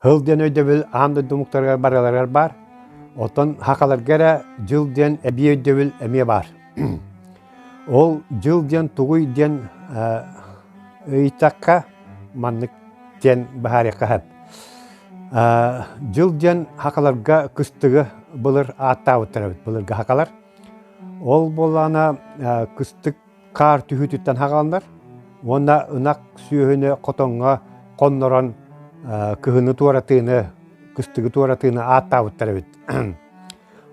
Һыл диэн өйдөбүл аан дойду омуктарыгар барыларыгар баар. Оттон хакаларга эрэ дьыл диэн эбии өйдөбүл эмиэ баар. Ол дьыл диэн тугуй диэн ыйытахха маннык диэн баһаарыахха сөп. Дьыл диэн хакаларга кыстыгы былыр ааттаабыттар эбит былыргы хакалар. Ол буоллаҕына кыстык хаар түһүүтүттэн хаҕаллар уонна ынах сүөһүнү хотоҥҥо хоннорон кыһыны туоратыыны кыстыгы туоратыыны ааттаабыттар эбит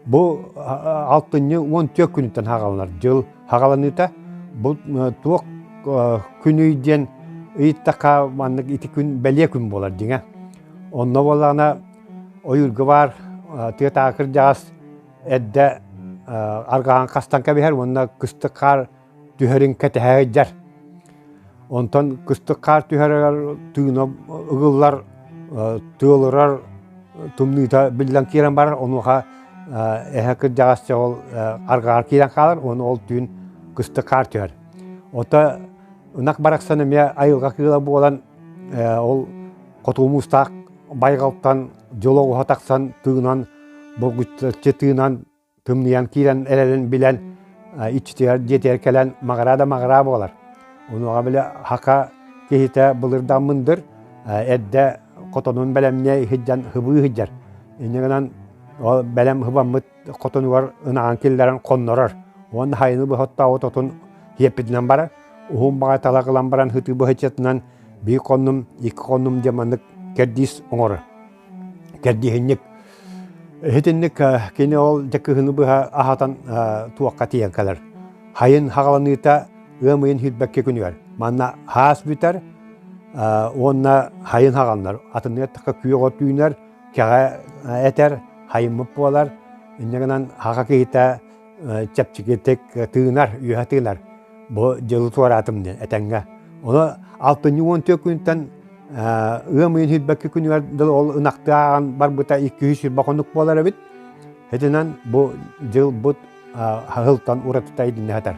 бу алтынньы уон түөрт күнүттэн хаҕаланар дьыл хаҕаланыыта бу туох күнүй диэн ыйыттахха маннык ити күн бэлиэ күн буолар дьиҥэ онно буоллаҕына ойуурга баар тыатаакырдьаҕас Эрдэ аргаһан хастан кэбиһэр уонна кыстык хаар түһэрин кэтэһэ ыйдьар. Онтон кыстык хаар түһэрэр тыына ыгыллар, тыалырар тымныыта биллэн киирэн барар, онуоха эһэ кырдьаҕас ол аргаҕар киирэн хаалар уонна ол түүн кыстык хаар түһэр. Ото ынах барахсан эмиэ айылҕа кыыла буолан ол хоту мустаах байҕалтан дьоло уһа тахсан тыынан булгучча тыынан тымныйан киирэн эрэлин билэн иччитигэр дьиэтигэр кэлэн маҕыраа да маҕыраа буолар онуоха бile хака киһитэ былырдаммындыр эрдэ хотонун бэлэмниэ иһирдьэн хыбыы иһирдьэр иннигынан ол бэлэм хыбаммыт хотонугар ынаҕын киллэрэн хоннорор уонна хайыны быһыттаабыт отун киэппитинэн барар уһун баҕа талах ылан баран һытыы быһыччытынан биир хоннум икки хоннум диэн маннык кэрдиис оҥорор кэрдииһинньик иһитинник кини ол дьэ кыһыны быһа аһатан туохха тиийэн кэлэр хайын хаҕаланыыта ыам ыйын һирбэккэ күнүгэр манна һаас бүтэр уонна хайын хаҕаннар атыныаттaka күөх от үүнэр кэҕэ этэр хайыммыт буолар иннэ гынан аҕа киһитэ чэпчэкитик тыынар үөһэ тыынар бу дьылы туораатым диэн этэҥҥэ ону алтынньы уон түөрт күнүттэн ыам ыйын сүүрбэкки күнүгэр дылы ол ынахтааҕан барбыта икки үс сүүрбэ хонук буолар эбит итинэн бу дьылбыт аһылтан уратыта идиннэ сатар